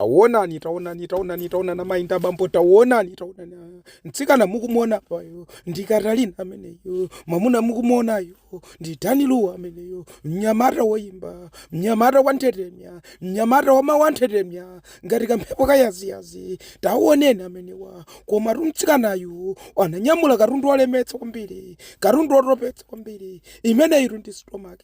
Taonani, taonani, taonani, taonani amayi ndi abambo, taonani, taonani. ah. Mtsikana mukumuona apayo ndi Katalina ameneyo, mwamuna mukumuonayo ndi Dan Lu ameneyo, mnyamata woyimba, mnyamata wa nthetemya, mnyamata wa mawu a nthetemya, ngati kamphepo kayaziyazi, taonani amenewa. Komatu mtsikanayu ananyamula katundu wolemetsa kwambiri, katundu wotopetsa kwambiri, imeneyitu ndi stomach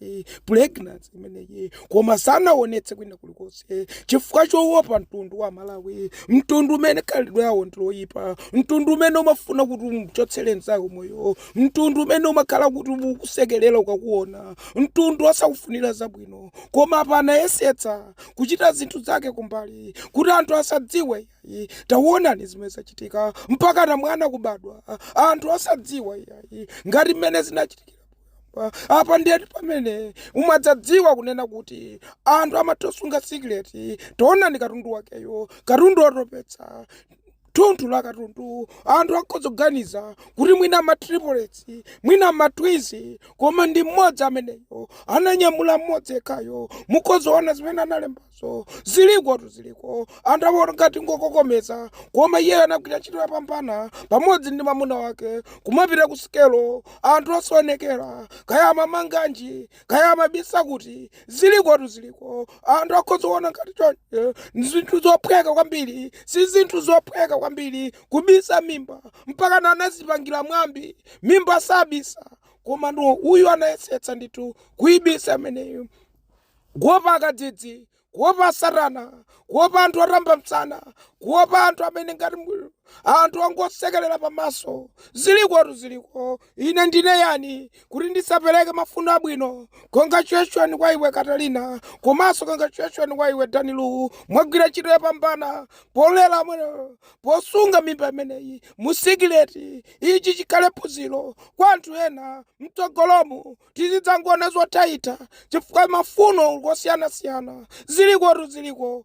pregnancy imeneyi koma sanaonetse kwina kulikonse chifukwa chowopa mtundu wa Malawi mtundu umene khalidwe lawo ndiloyipa mtundu umene umafuna kuti umchotsere nzako moyo mtundu umene umakhala kuti ukusekerera ukakuona mtundu osakufunira zabwino koma apa anayesetsa kuchita zinthu zake kumbali kuti anthu asadziwe iyayi tawonani zimene zachitika mpakana mwana kubadwa ah, anthu asadziwa iyayi ngati mmene zinachitikira poyamba. apa ndiyeti pamene umadzadziwa kunena kuti anthu amatosunga sikileti tawonani katundu wakeyo katundu otopetsa thunthu la katundu anthu akhoza kuganiza kuti mwina matriplets mwina matwins koma ndi mmodzi ameneyo ananyamula mmodzi yekhayo mukhoza kuona zimene analembazo so zilikotu ziliko anthu awo ngati ngokokomeza koma iyeyo anagwira ntchito yapambana pamodzi ndi mamuna wake kumapita ku sikelo anthu osaonekera kaya amamanganji kaya amabisa kuti zilikotu ziliko anthu akhoza kuona ngati chonchi zinthu zophweka kwambiri si zinthu zophweka kwambiri kubisa mimba mpakana anazipangira mwambi mimba sabisa koma no uyu anayesetsa ndithu kuibisa imeneyo Kuopa akadzidzi, kuopa Satana, kuopa anthu otamba masana, kuopa anthu amene ngati anthu ongosekerera pamaso. Zilikotu ziliko. Ine ndine yani kuti ndisapereke mafuno abwino? Congratulation kwa iwe Katalina, komanso congratulation kwa iwe Dan Lu. Mwagwira ntchito yopambana polera mwene posunga mimba imeneyi mu sikileti. Ichi chikhale phunziro kwa anthu ena mtsogolomu. tizidzangoona zothaitha chifukwa mafuno ngosiyanasiyana zilikotu ziliko.